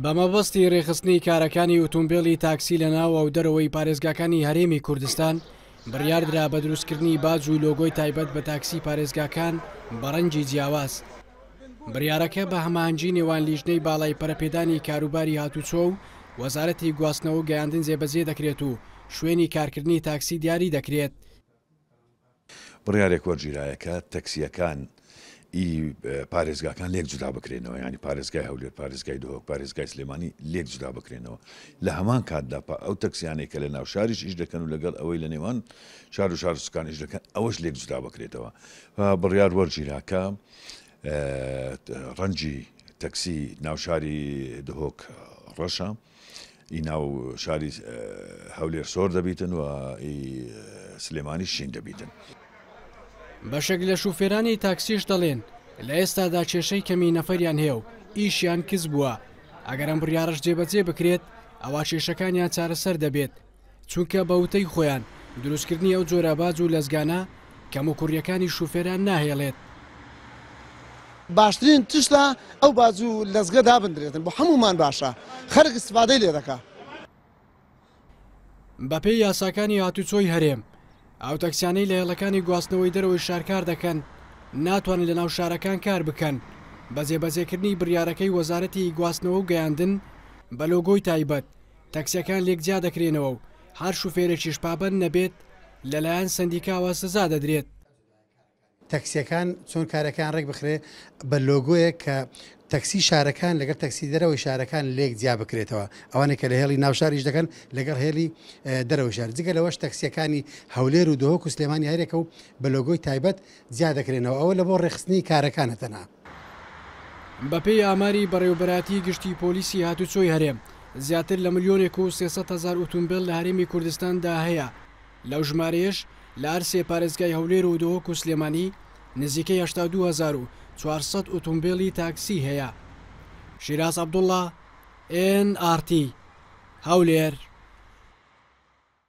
بەمەبەستی ڕێخستنی کارەکانی ئۆتۆمبیلی تاکسی لە ناو و دەرەوەی پارێزگاکانی هەرێمی کوردستان بڕیاردرا بە دروستکردنی باج و لۆگۆی تایبەت بە تاکسی پارێزگاکان بەڕەنجی جیاواز بڕارەکە بە هەمانجی نێوان لیژنەی باڵای پەرپێدانی کاروباری هاتوچۆ و وەزارەتی گواستنەوە گەیاندن جێبەجێ دەکرێت و شوێنی کارکردنی تاکسی دیاری دەکرێت بڕیارێک وەرگیرایە کە تەکسییەکان ی پارێزگاکان لێک جودا بکرێنەوە ینی پارێزگای هەولێر پارێزگای دهۆک پارێزگای سلێمانی لێک جودا بکرێنەوە لە هەمان کاتدا پا ئەو تەکسیانەی کە لە ناو شاریش ئیش دەکەن و لەگەڵ ئەوەی لە نێوان شار و شار سکان ئیش دەکەن ئەوەش لێک جودا بکرێتەوە بڕیار وەرگیراکە ڕەنجی تەکسی ناوشاری دهۆک ڕەشە. ئی ناو شاری هەولێر سۆر دەبیتن و ئی سلێمانیش شین دەبیتن. بەشێک لە شوفێرانی تاکسیش دەڵێن، لە ئێستادا کێشەی کەمی نەفەریان هەیە و ئیشیان کز بووە، ئەگەر ئەم بڕیاڕەش جێبەجێ بکرێت، ئەوا کێشەکانیان چارەسەر دەبێت. چونکە بە وتەی خۆیان دروستکردنی ئەو جۆرە باج و لەزگانە کەموکوڕییەکانی شوفێران ناهێڵێت. باشترین تشتە ئەو باج و لەزگە دابندرێتن بۆ هەموومان باشە خەرک استفادەی لێ دەکا. بەپێی یاساکانی هاتوچۆی هەرێم ئەو تەکسیانەی لە هێڵەکانی گواستنەوەی دەرەوەی شار کار دەکەن ناتوانن لەناو شارەکان کار بکەن بە جێبەجێکردنی بریارەکەی وەزارەتی گواستنەوە و گەیاندن بە لۆگۆی تایبەت تەکسیەکان لێک جیا دەکرێنەوە و هەر شوفێرێکیش پابەند نەبێت لەلایەن سەندیکاوە سزا دەدرێت. تەکسیەکان چۆن کارەکەیان ڕێک بخرێت، بە لۆگۆیەک کە تەکسی شارەکان لەگەڵ تەکسی دەرەوەی شارەکان لێک جیا بکرێتەوە، ئەوانەی کە لە هێڵی ناو شار ئیش دەکەن لەگەڵ هێڵی دەرەوەی شار، جگە لەوەش تەکسیەکانی هەولێر و دهۆک و سلێمانی هەریەکە و بە لۆگۆی تایبەت، جیا دەکرێنەوە ئەوە لەبۆ ڕێکخستنی کارەکانە تەنها. بەپێی ئاماری بەڕێوەبەرایەتیی گشتیی پۆلیسی هاتووچۆی هەرێم، زیاتر لە ملیۆنێک و سێ سەد هەزار ئوتومبێل لە هەرێمی کوردستاندا هەیە، لەو ژمارەیەش لە هەر سێ پارێزگای هەولێر و دهۆک و سلێمانی نزیکەی هەشتا و دوو هەزار و چوار سەد ئوتومبێلی تاکسی هەیە. شیراز عەبدوڵڵا، ئێن ئاڕ تی، هەولێر.